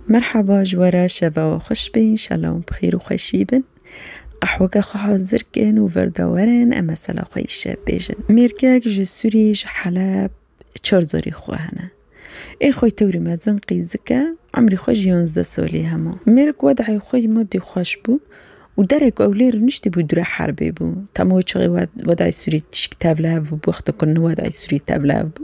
Merhaba ji we re şeva we xweş be înşallah û bi xêr û xweşî bin. Qehweke xwe hazir kin û vir de werin em mesela xwe îşev bêjin. Mêrgek ji Sûrî ji Heleb çar zarî xwe hene. Ê xwe tewrî mezin qîzik e, emrî xwe ji yanzdeh salî hema. Mêrik wedayê xwe ji madî xweş bû û derê ku ew lê rûniştî bû dûre herbê bû. Tama wê çixê wedayê Sûrî tişik tevlihev bû bi wexta ku niwedayê Sûrî tevlihev bû.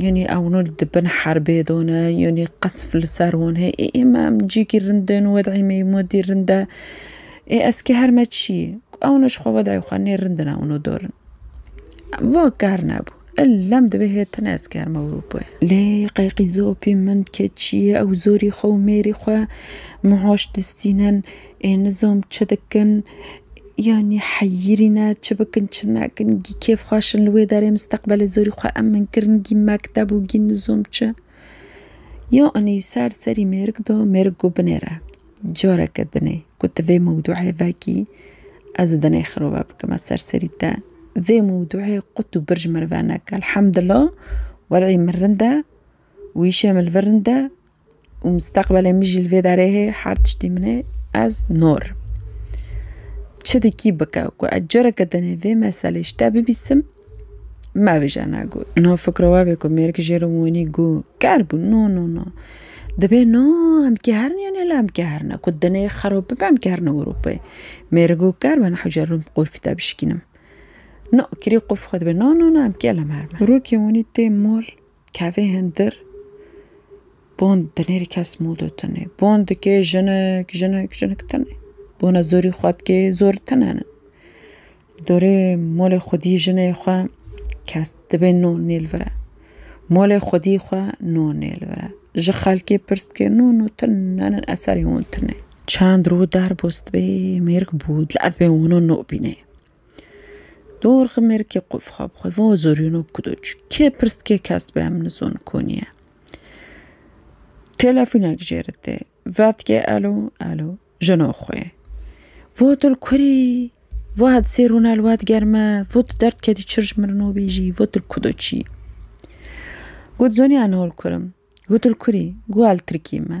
Yanî ew nû di bin herbê de ne, yanî qesf li ser wan heye. Ê ê me em cîkî rind in, wed'î me yê madî rind e. Ê ez kê her me çi yê? Ew ne ji xwe wed'î xwe nê rind in ew nû dor in. Va ker nebû. Illem divê hê tune ez kê herme Ewropayê. Lê qeyqîzo pî min ke çi yê ew zorî xwe û mêrî xwe muhaş distînin. Ê nizom çi dikin, yanî heyîrî ne, çi bikin çi nekin, gî kêf xweş in li wê derê misteqbelê zorî xwe emin kirin, gî mekteb û gî nizom çi. Ya inî ser serî mêrik do, mêrik got binêre. Careke din ê ku tu vê mewdûê vekî, ez dinê xirove bikime ser serî te. Vê mewdûê qut û bir ji min re veneke. Elhamdullah welî min rind e û îşê min li vir rind e. û misteqbelê min jî li vê derê heye her tiştî min e ez nor im. Çi dikî bike ku ez careke tenê vê meselê ji te bibîsim me bije ne got. No fikro we bê ku mêrg jê re wînî got ker bû no no no dibê no em kehirîn yanî hela em kehirîn ku tenê xerab bibe em kehirîn Ewropayê. Mêr got ker be nihwe ji rûm qulfî te bişkînim. No kirî qulf xwe dibê no no no em kêlim herime. Rokê wînî tê mol Kevê hindir bon dinêrî kes mûdû tune. Bon dikê jinik, jinik, jinik tune. Bona zorî xwe dikê zor tune ne. Dorê molê xwedî jinê xwe kes dibê no nêl vire. Molê xwedî xwe no nêl vire. Ji xelkê pirs dikê no no tune ne ne eserê wan tune. Çend rû derbas dibê mêrg bû dil edibê wano no bînê. Dor ximerkê xwe xwe bi xwe va zorîno ku tu çi kê pirs dikê kes dibe em nizon konî ye. Telefonek jê re tê va dikê elo elo jina xwe ye. Va til kurî va hedi sê rûne li we diger me va tu derd ketî çir ji min re nabêjî va tu li ku de çî. Got zanî ez niha li kur im. Gotu li kurî? Got ez li Tirkiyê me.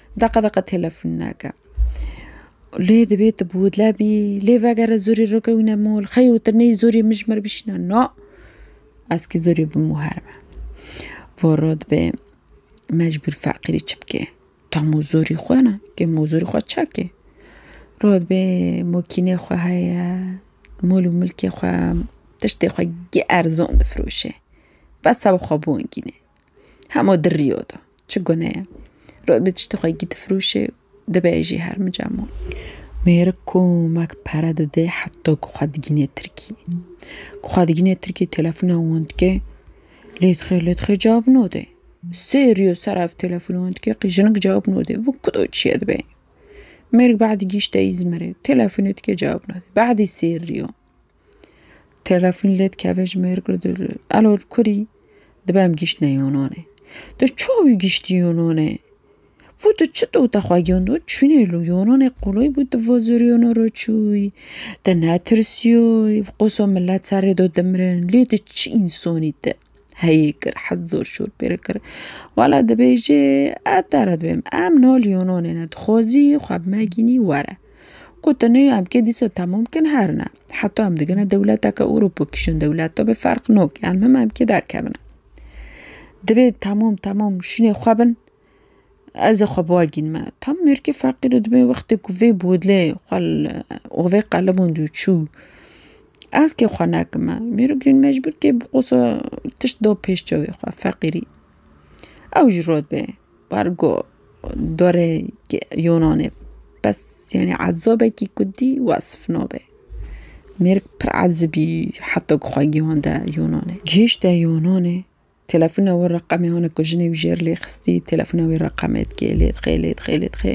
Deqa deqa telefon nake. Lê divê tu bi widle bî, lê vegere zorî rikewîne mol, xeyo tu ney zorî min ji min re bişîne na, ez kî zorî bi min wiha re me. Voro dibê mecbûr feqîrî çi bikê? Ta mozorî xwe ne, kê mozorî xwe çekê. Rû dibê mokînê xwe heye, mol û milkê xwe, tiştê xwe geh erzan difiroşê. Bes ew xwe bongînê. Hemo di riyo de. Çi gune ye? Rod bi tiştê xwe gîdifirûşê dibêjî her mica mû. Mêrik komek pere dide heta ku xwe digîne Tirkî. Ku xwe digîne Tirkî telefona wan dike lê dixê lê dixê cewab node. Sê riyo ser ev telefona wan dike qî jinik cewab node. Vû ku do çiye dibe. Mêrik badî gîşte Îzmirê. Telefona dike cewab node. Badî sê riyo. Telefon lê dikeve ji mêr re dibe elo li kurî dibe em gihîştine Yûnanê. Tu çawa wî gihîştî Yûnanê? Wû tu çi dot te xwe giyandiyo çûyî li Yûnanê qûlêy bû tu vos Yûnan re çûyî te netirsîyoyî qoso milet serê do dimirin lê tu çi însanî te. Heyî kir hez zor şor pê re kir. Wala dibêjê ez te re dibêm em niha li Yûnanê ne dixwazî xwe bi me gînî were. Gotin nê em kê dîsa temam bikin her ne heta em digine dewleteke Ewropa kişin dewleta bi ferq nake em him em kê derkevin. Divê temam temam şînê xwe bin. Ez ê xwe biwe gînime. Tam mêrkê feqîr û dibê wextê ku vê bodlê xwe li û vê qelibûn dû çû. Ez kê xwe nekime. Mêrûk jî mecbûr kê bi qosa tişt da pêş çavê xwe feqîrî. Ew ji rod bê bar got dorê yûnanê bes yanî ezabekî ku dî wesf nabe. Mêrik pir ezibî heta ku xwe gihande yûnanê. Gihişte yûnanê. Telefona wî reqemê hene ku jinê wî jêr lê xistî, telefona wî reqemê dikê, lê dixê, lê dixê, lê dixê.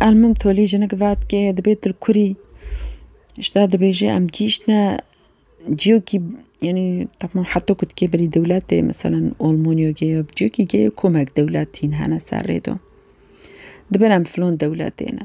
Elmim tolî jinik vat kê dibê tu kurî. Ji te dibêje em gihîştine ciyokî yanî temam heta ku dikê berî dewletê meselan Olmanya ge ya ciyokî ge komek dewlet tîn hene ser rê de. Dibin em filan dewletê ne.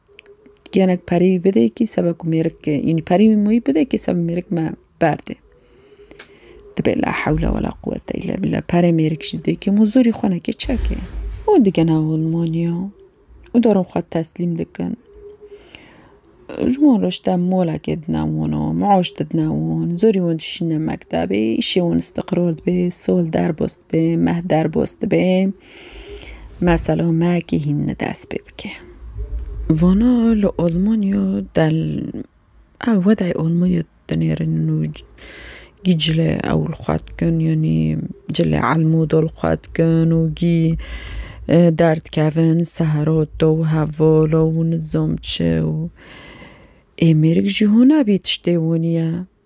Genek perî bidê kî sebe ku mêrik înî perî mûyî bidê kî sebe mêrik me berdê. Dibê la hewle we la quwete île bila perê mêrik jî dê kî mû zorî xwe nekê çekê. Û digena holmaniya û dorên xwe teslîm dikin. Ji wan re ji te molekê dina wan û mûaş didina wan. Zorî wan dişîne mektebê, îşê wan îstiqrar dibê, sol derbas dibê, meh derbas dibê. Mesela me kîhînî dest pê bike. Vana li Almanya del ev wedayê Almanya dinêrin û gî cile ew li xwe dikin yanî cile elmo da li xwe dikin û gî derdikevin sehera da û hevala û nizam çi û ê mêrik jî hûna bî tiştê hûn ye.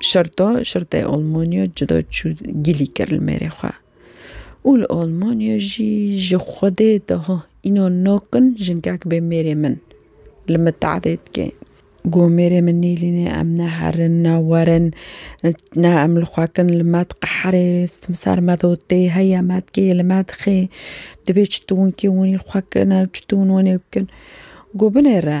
Şirto, Şirtê Olmonyo cuda çû gilî kir li mêrê xwe û li Olmonyo jî ji Xwedê daha înan nakin jinkek bê mêrê min li min tehdê dike. Got mêrê min nêlîne em ne herin ne werin ne em li xwe kin li me diqeherê stim ser me dotê heye me dikê li me dixê dibê çitûnkê hûn î li xwe kirine çitûn hûn ê bikin. Got binêre.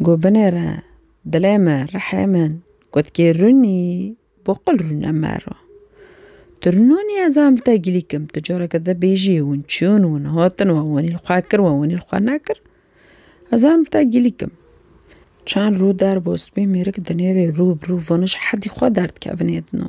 Got binêre dilê min, rihê min. Got kê rûnî bo qil rûne mero. Tu rûnanî ez ê min te gilî kim. Tu careke din bêjî hûn çûn hûn hatin we wanî li xwe kir we wanî li xwe nekir ez ê min te gilî kim. Çend rû derbas bê mêrik dinêrê rû bi rû vana ji hedî xwe derdikevin êdino.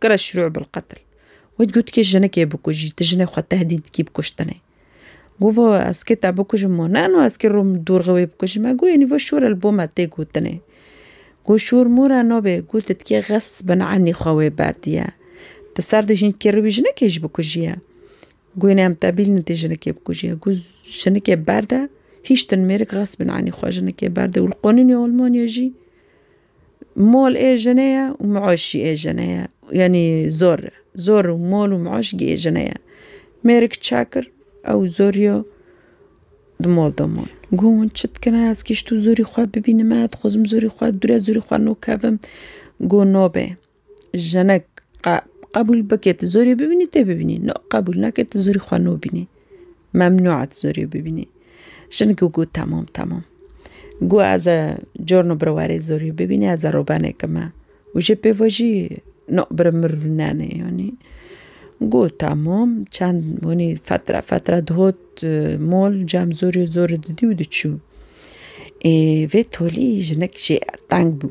Kira şirû bil qetil. Wê digotikê jinikê bikujî, tu jinê xwe tehdît dikî bi kuştinê. Govo ez kê te bikujim û ne no ez kê rûm dûrxê wê bikujim e, goyê nîvo şûr e li bo me tê gotinê. Go şûr mûr e no bê, go tu dikê xes bin enî xwe wê berdiye. Ti ser di hînkê rû wî jinikê jî bikujiye. Goyê nê em tebîl ne tê jinikê bikujiye. Go jinikê berde, hîştin mêrik xes bin enî xwe jinikê berdê û li qonûnê Almanya jî, Mol ê jinê ye û miûş jî ê jinê ye. Yanî zor, zor û mol û miûş jî ê jinê ye. Mêrik çek kir ew zor yo di mol de man. Got hûn çi dikine ez kî ji to zorî xwe bibînime, dixwazim zorî xwe dûre zorî xwe nokevim. Got nabê. Jinek qe qebûl bike tu zorê bibînî tê bibînî no qebûl neke tu zorî xwe nobînî memnû et zorê bibînî jinik û got temam temam got ez e corno bi warê zorê bibînî ez e robeneke me û jê pêvojî no bi min re rûnenê yanî got temam çend wanî fetre fetre digot mol cem zorê zor didî û diçû ê vê tolî jinik jê teng bû.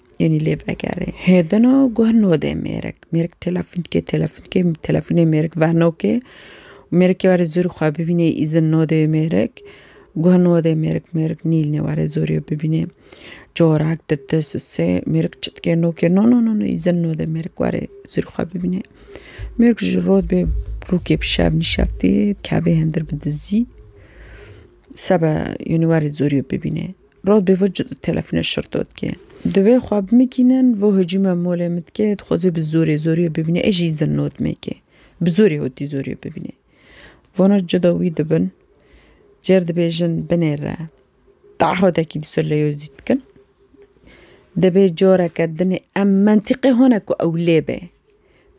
Yenî lê vegerê. Hêdina guh nodê mêrik. Mêrik telefûn dike, telefûn dike, telefûnê mêrik venokê. Mêrikê were zûrî xwe bibînê îzin nodê mêrik. Guh nodê mêrik, mêrik nîlnê were zûrî bibînê. Corak dide sise, mêrik çi dike nokê no no no no îzin nodê mêrik were zûrî xwe bibînê. Mêrik ji rod bê rûkê bi şev nîşeftê kevê hindir bi dizî. Sebe yenî were zûrî bibînê. Rod bê vo telefonê şir to dike. Divê xwe bimikînin, vo hicûme molê min dike, dixwaze bi zorê zorî wê bibîne, ê jî zin not mêke. Bi zorê hotî zorî wê bibîne. Vana cuda wî dibin, cêr dibêjin binêre. Tahodekî dîsa leyozî dikin. Dibê careke dinê em mentîqê hone ku ew lê be.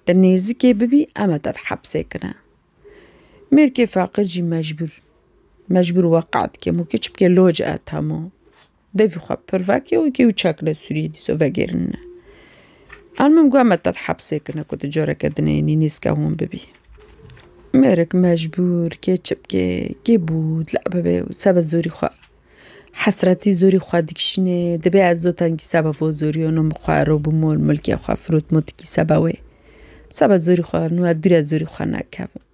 Di nêzikê bibî eme te di hepsê kine. Mêrkê feqir jî mecbûr, mecbûr weqa dike mû ke çi bike loc e tamo. Devî xwe pir veke û kê û çek li Sûriyê dîsa vegêrine. An min got me ted hepsê kine ku tu careke din ê nînîska hûn bibî. Mêrik mecbûr kê çi bike, kê bû dila bibe û sebe zorî xwe. Hesretî zorî xwe dikişînê, dibê ez zotengî seba vo zoriyo no min xwe ero bi mol milkê xwe firot motikî seba wê. Seba zorî xwe no ez dûre zorî xwe nakevim.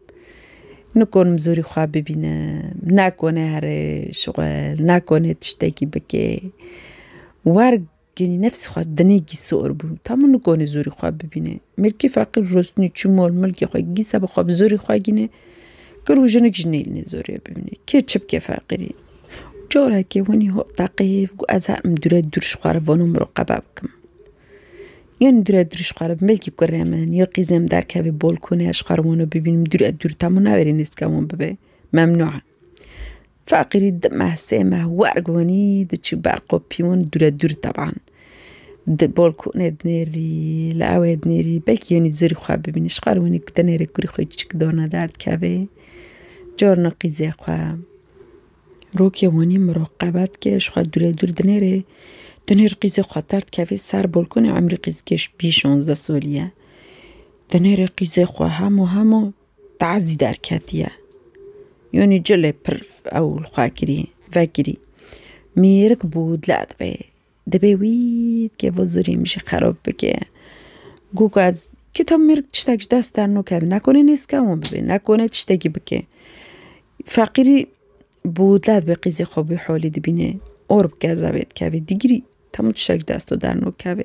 Nikonim zorî xwe bibînim, nakonê herêş xwe, nakonê tiştekî bikê. Wer Genî nefsî xwe dinê gî sor bû. Ta min nikonê zorî xwe bibînê. Mirkî feqîr rostinî çû mol milkê xwe gî seba xwe bi zorî xwe gînê. Kir û jinik jî nêlînê zorê bibînê. Kê çi bike feqîrî. Carekê winî hat taqê hêv got ez herim dûre dûr ji xwe re vano miroqeba bikim. Yên dûre dûr ji xwe re milkî kurê min ya qîzê min derkeve bolkonê ez ji xwe re wano bibînim dûre dûr ta min naverê nêzika wan bibe. Memnû e. Faqîrî di meh sê meh werg wenî diçû ber qopîwin dûre dûr teban. Di bolkonê dinêrî, li ewê dinêrî belkî yenî zirî xwe bibînî. Ji xwe re wenî dinêrê kurî xwe çik dorna der dikevê carna qîzê xwe. Rokê wenî miraqebet ke ji xwe dûre dûr dinêrê dinêr qîzê xwe der dikevê ser bolkonê emrî qîz kêş bî şonzde solî ye. Dinêrê qîzê xwe hemû hemû Tazî derketiye. Yonî cilê pir ew li xwe kirî, vekirî. Mêrik bû dile dibe. Dibê wî dikê vê zûrî min jî xerob bike. Gûk ez kî tam mêrik tiştek ji dest derno keve. Nekonê nêzika wan bibe, nekonê tiştekî bike. Feqîrî bû dile dibe qîzê xwe bî holî dibîne. Or bike zevê dikeve. Digirî tam tiştek ji dest û derno keve.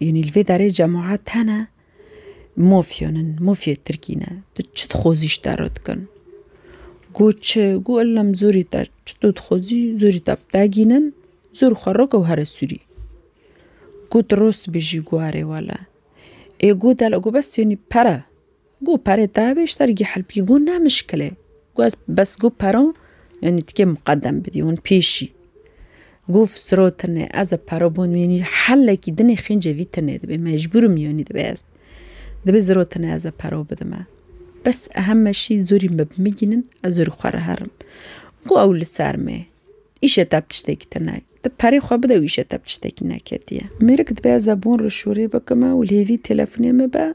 Yanî li vê derê cemaat tene mafyan in, mafyayê tirkî ne. Tu çi dixwazî ji te re dikin? Got çi? Got ellem zorî te çi tu dixwazî zorî te bi te gînin, zor xwe rake û here Sûrî. Got tu rost dibêjî? Got erê wele. Ê got hele, got bes yanî pere. Got perê te bê ji dergî helbî got ne mişkil e. Got ez bes got pero yanî tikê miqedem bidî hûn pêşî. Got fsro tune ez ê pero bin yanî helekî dinê xêncê vî tune dibe mecbûr im yanî dibe ez. Dibe zro tune ez ê pero bidime. Bes ehem meşî zorî me bi min gînin ez zorî xwe re herim. Got ew li ser me îşê te bi tiştekî te nayê. Ti perê xwe bide û îşê te bi tiştekî neketiye. Mêrik dibe ez ê bon rişûrê bikime û lê vî telefonê min be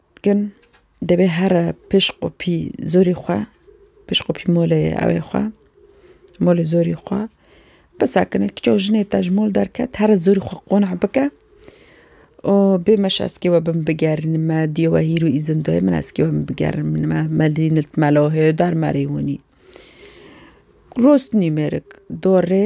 Dikin, dibê here pişq û pî zorî xwe, pişq û pî molê ewê xwe, molê zorî xwe bisekine. Kiçe û jinê te ji mol derket, here zorî xwe qona bike û bê meşe ez kê we bin bigerînim, me dîyo we hîr û îzin dayê min ez kê we bin bigerînim, me me dî nilt melo hêdar merî hûnî. Rûst nîmêrik dorê.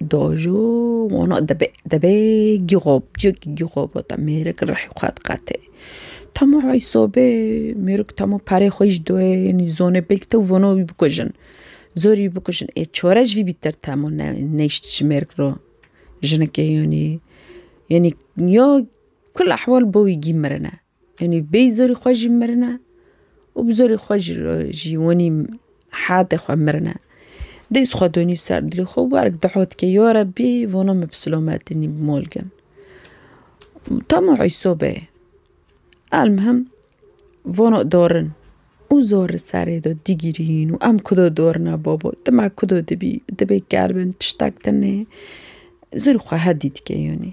Dojo wano debe debe gîxob cik gîxobo ta mêrik rihê xwe diqete. Temo rayî sobe mêrik temo perê xwe ji doyê yanî zonê belkî te vono wî bikujin. Zorî wî bikujin ê çore ji vî bîtir temo ne neyşt ji mêrik re. Jinekê yanî yanî ya kul ehwal bo wî gî mirine. Yanî bêyî zorî xwe jî mirin e û bi zorî xwe jî re jî wanî heyatê xwe mirin e. Dês xwe donî ser dilê xwe û werek diho dike ya Rebî vana min bi silametî nî bi mal gin. Dema Îsa be elmihim vana darin û zor li serê de digirîn û em ku de darin a babo tu me ku de dibî dibê keribin tiştek tune zorî xwe hedî dike yanî.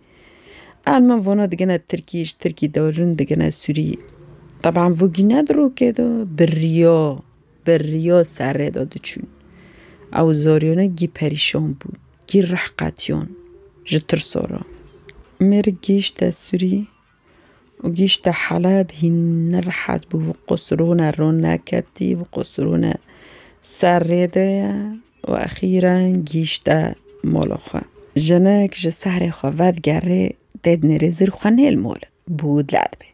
An min vona digine Tirkî, ji Tirkî derûn digine Sûrî. Teban vû gî ne di rokê de, bi riya, bi riya serrê de diçûn. Ew zariyane gî perîşan bûn, gî rih qetiyan ji tirsa re. Mêrik gihîşte Sûrî. û gihîşte Heleb, hîn nerehet bû, bi qûs rûne rûne ketî, bi qûs rûne ser rê de ye û exîren gihîşte mola xwe. Jinik ji serê xwe vedigerê, dê di nêrê zir xwe nêl mol bû dile dibê.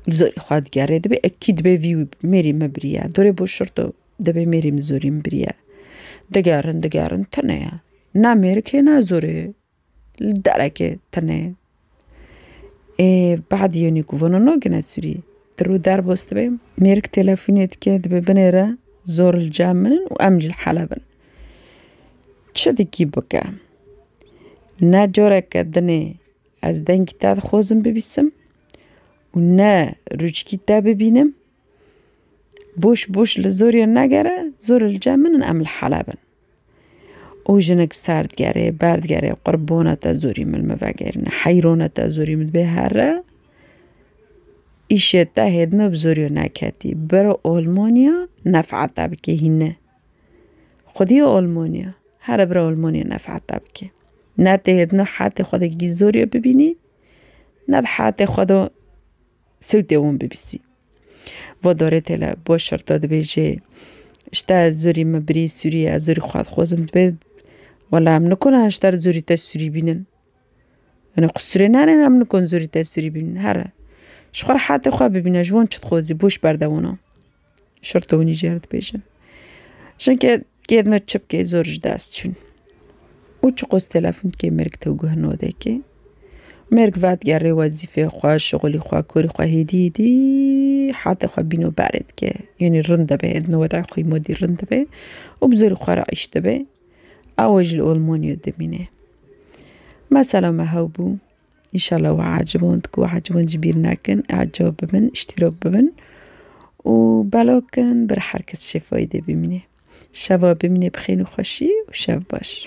Li zorî xwe digerê, dibê ekî dibê vî mêrî min biriye. Dorê bo şirto, dibê mêrî min zorî min biriye. Digerin digerin tune ye. Ne mêrikê ne zorê. Li derekê tune ê behd yênî ku vano nagêne sûrî. Di rû derbas dibe mêrik têlefonê dike dibe binê re zor li cem min in û em jî li Heleb in. Çi dikî bike? Ne careke dinê ez dengî te dixwazim bibîsim û ne rûçikî te bibînim. Boş boş li zorê negere zor li cem min in em li Heleb in. û jinik ser digerê, ber digerê, qurbona te zorî min me vegêrine, heyrona te zorî min dibê here îşê te hê dime bi zorî wê neketî. Biro Olmanya nef'a te bikê hîne. Xwedî Olmanya, here biro Olmanya nef'a te bikê. Ne tê hê dime hetê xwedekî zorî wê bibînî, ne di hetê xwedo Sewtê wan bibîsî. Va darê tele bo şerta dibêjê Şte zurî min birî sûrî ez zurî xwaz xwazim dibê Wela em nikona ji te re zurî te sûrî bînin. Ene ku sûrê nane ne em nikon zurî te sûrî bînin here. Ji xwe re hatê xwe bibîne ji wan çi dixwazî boş berde wana. Şerto hûn jî cer dibêjin. Jinke kêdno çipkê zor ji dest çûn. Û çi qos telefon dikê mêrg tew guh nodekê. Mêrg vat gerê wezîfê xwe, şixulî xwe, korî xwe hêdî hêdî hatê xwe bîno berê dike. Yanî rind dibe êdno wedayê xwe modî rind dibe û bi zorî xwe re îş dibe. Ew ji li Olmanya dimîne. Mesela me hew bû Înşallah we eciband ku we eciband jî bîr nekin, ecab bibin, îştîrak bibin û belav kin bir her kes şêfayê dê bimîne. Şeva bimîne bi xêr û xweşî û şev baş.